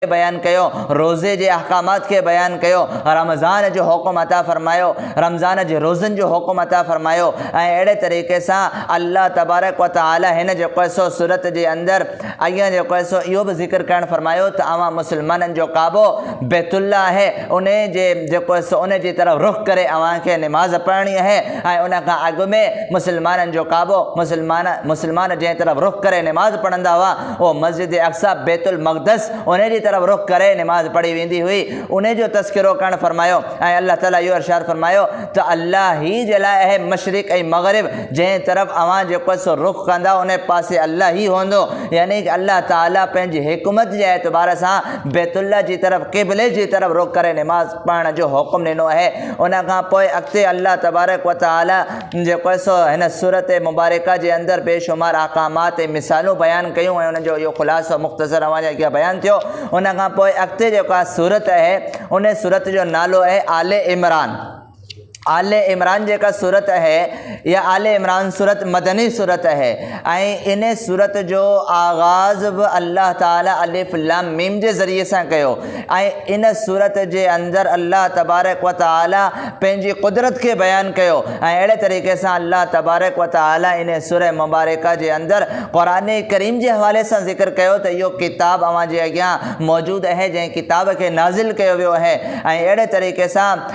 بيان ڪيو، روزي جي احڪامات کي بيان ڪيو، رمضان جو حڪم عطا فرمايو، رمضان جي روزن جو حڪم عطا فرمايو ۽ اهڙي طريقي سان الله تبارڪ و تعالي هن جيڪو هي سو سورت جي اندر ائين جيڪو هي سو اهو به ذڪر ڪرڻ فرمايو ته اوهان مسلمانن جو ڪعبو بيت الله آهي انهي جي جيڪو هي سو انهي جي طرف رخ ڪري اوهان کي نماز پڙهڻي آهي ۽ ان کان اڳ ۾ مسلمانن جو ڪعبو مسلمان مسلمان جنهن طرف رخ ڪري نماز پڙهندا هئا اهو مسجد اقصيٰ، بيت المقدس، انهي جي طرف رخ ڪري نماز پڙهي ويندي هئي، انهي جو تذڪرو ڪرڻ فرمايو ۽ الله تعالي اهو ارشاد فرمايو ته الله هي جي لاء اهي مشرق ۽ مغرب جنهن طرف اوهان جيڪو سو رخ ڪندا انهي پاسي الله هي هوندو يعني ته الله تعالي پنهنجي حڪمت جي اعتبار سان بيت الله جي طرف قبلي جي طرف رخ ڪري نماز پڙهڻ جو حڪم ڏنو اهي ان کان پوء اڳتي الله تبارڪ وتعالي جيڪو سو هن سورت مبارڪه جي اندر بي شمار احڪامات ۽ مثالون بيان ڪيون ۽ ان جو اهو خلاصو مختصر اوهان جي اڳيان بيان ٿيو. ان کان پوء اڳتي جيڪا سورت اهي ان سورت جو نالو اهي آل عمران. آل عمران جيڪا سورت اهي اها آل عمران سورت مدني سورت اهي ۽ ان سورت جو آغاز به الله تعالي الف لام ميم جي ذريعي سان ڪيو. ۽ ان سورت جي اندر الله تبارڪ وتعالي پنهنجي قدرت کي بيان ڪيو ۽ اهڙي طريقي سان الله تبارڪ وتعالي ان سوره مبارڪه جي اندر قرآن ڪريم جي حوالي سان ذڪر ڪيو ته اهو ڪتاب اوهان جي اڳيان موجود اهي جنهن ڪتاب کي نازل ڪيو ويو اهي ۽ اهڙي طريقي سان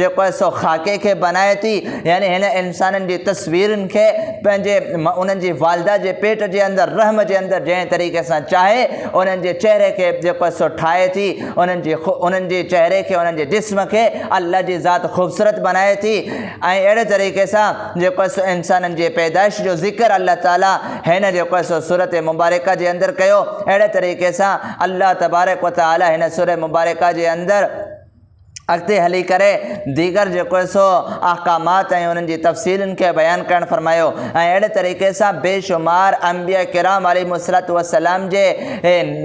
جيڪو آهي سو خاڪي کي بنائي ٿي يعني هن انسانن جي تصويرن کي پنهنجي انهن جي والده جي پيٽ جي اندر رحم جي اندر جنهن طريقي سان چاهي انهن جي چهري کي جيڪو آهي سو ٺاهي ٿي انهن جي انهن جي چهري کي انهن جي جسم کي الله جي ذات خوبصورت بنائي ٿي ۽ اهڙي طريقي سان جيڪو آهي سو انسانن جي پيدائش جو ذڪر الله تعالي هن جيڪو آهي سو صورت مبارڪه جي اندر ڪيو اهڙي طريقي سان الله تبارڪ و تعالي هن سورة مبارڪه جي اندر اڳتي هلي ڪري ديگر جيڪو هي سو احڪامات ۽ انهن جي تفصيلن کي بيان ڪرڻ فرمايو ۽ اهڙي طريقي سان بي شمار انبياء ڪرام عليهم الصلوة والسلام جي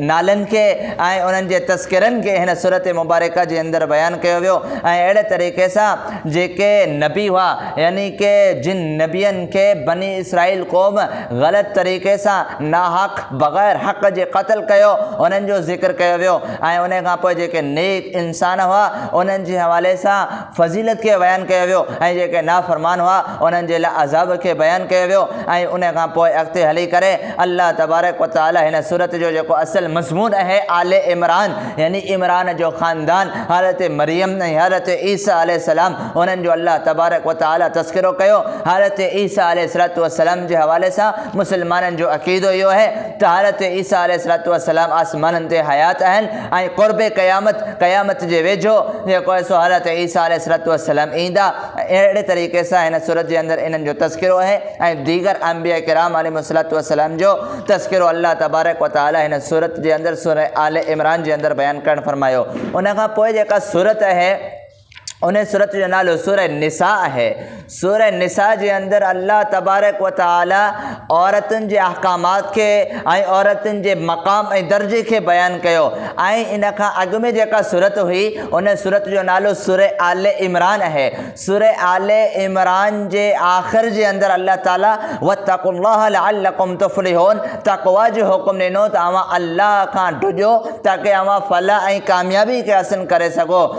نالن کي ۽ انهن جي تذڪرن کي هن سورت مبارڪه جي اندر بيان ڪيو ويو ۽ اهڙي طريقي سان جيڪي نبي هئا يعني ڪي جن نبين کي بني اسرائيل قوم غلط طريقي سان ناحق بغير حق جي قتل ڪيو انهن جو ذڪر ڪيو ويو ۽ انهيء کان پوء جيڪي نيڪ انسان هئا، انهن جي حوالي سان فضيلت کي بيان ڪيو ويو، ۽ جيڪي نافرمان هئا، انهن جي لاء عذاب کي بيان ڪيو ويو، ۽ انهيء کان پوء اڳتي هلي ڪري الله تبارڪ و تعاليٰ هن سورت جو جيڪو اصل مضمون اهي آل عمران يعني عمران جو خاندان، حضرت مريم ۽ حضرت عيسيٰ عليه السلام انهن جو الله تبارڪ و تعاليٰ تذڪرو ڪيو، حضرت عيسيٰ عليه السلام جي حوالي سان مسلمانن جو عقيدو اهو آهي، طهارت تي عيسيٰ عليه السلام آسمانن تي حيات آهن ۽ قرب قيامت، قيامت جي ويجهو، جيڪو آهي سو حضرت عيسيٰ عليه السلام ايندا ۽ اهڙي طريقي سان هن سورت جي اندر انهن جو تذڪرو آهي ۽ ديگر انبياء ڪرام عليهم السلام جو تذڪرو الله تبارڪ و تعاليٰ هن سورت جي اندر سورة آل عمران جي اندر بيان ڪرڻ فرمايو ان کان پوء جيڪا سورت آهي انهيء سورت جو نالو سورة النساء آهي. سورة النساء جي اندر الله تبارڪ و تعالي عورتن جي احڪامات کي ۽ عورتن جي مقام ۽ درجي کي بيان ڪيو ۽ ان کان اڳ ۾ جيڪا سورت هئي ان سورت جو نالو سورة آل عمران آهي. سورة آل عمران جي آخر جي اندر الله تعالي واتقوا الله لعلڪم تفلحون تقويٰ جو حڪم ڏنو ته اوهان الله کان ڊڄو تاڪه اوهان فلاح ۽ ڪاميابي کي حاصل ڪري سگهو.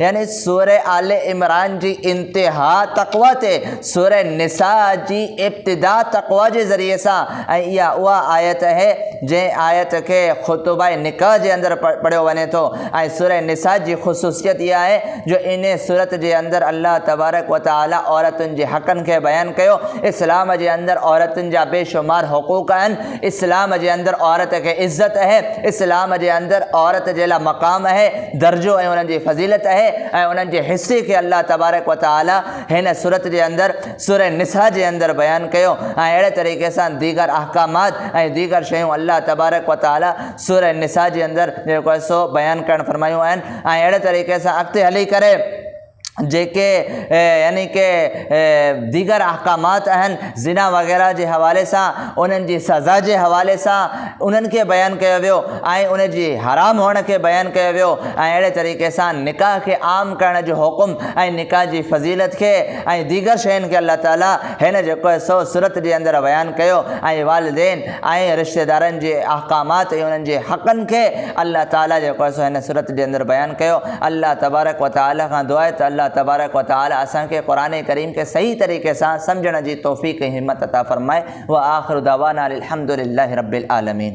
يعني سورة آل عمران جي انتها تقويٰ تي، سورة نساء جي ابتدا تقويٰ جي ذريعي سان ۽ اها اها آيت اهي جنهن آيت کي خطبه نڪاح جي اندر پڙهيو وڃي ٿو ۽ سورة نساء جي خصوصيت اها آهي جو انهي سورت جي اندر الله تبارڪ وتعالي عورتن جي حقن کي بيان ڪيو اسلام جي اندر عورتن جا بيشمار حقوق آهن اسلام جي اندر عورت کي عزت اهي، اسلام جي اندر عورت جي لا مقام اهي، درجو ۽ انهن جي فضيلت اهي ۽ انهن جي حصي کي الله تبارڪ و تعالي هن سورت جي اندر سوره نساء جي اندر بيان ڪيو ۽ اهڙي طريقي سان ديگر احڪامات ۽ ديگر شيون الله تبارڪ و تعالي سوره نساء جي اندر جيڪو آهي سو بيان ڪرڻ فرمايون آهن ۽ اهڙي طريقي سان اڳتي هلي ڪري جيڪي يعني ڪي ديگر احڪامات آهن زنا وغيره جي حوالي سان انهن جي سزا جي حوالي سان انهن کي بيان ڪيو ويو ۽ ان جي حرام هئڻ کي بيان ڪيو ويو ۽ اهڙي طريقي سان نڪاح کي عام ڪرڻ جو حڪم ۽ نڪاح جي فضيلت کي ۽ ديگر شين کي الله تعالي هن جيڪو سو سورت جي اندر بيان ڪيو ۽ والدين ۽ رشتيدارن جي احڪامات ۽ انهن جي حقن کي الله تعالي جيڪو آهي سو هن سورت جي اندر بيان ڪيو. الله تبارڪ و تعالي کان دعا آهي ته الله تبارڪ و تعالي اسان کي قرآن ڪريم کي صحيح طريقي سان سمجهڻ جي توفيق ۽ همت عطا فرمائي. وآخر دعوانا ان الحمدلله رب العالمين.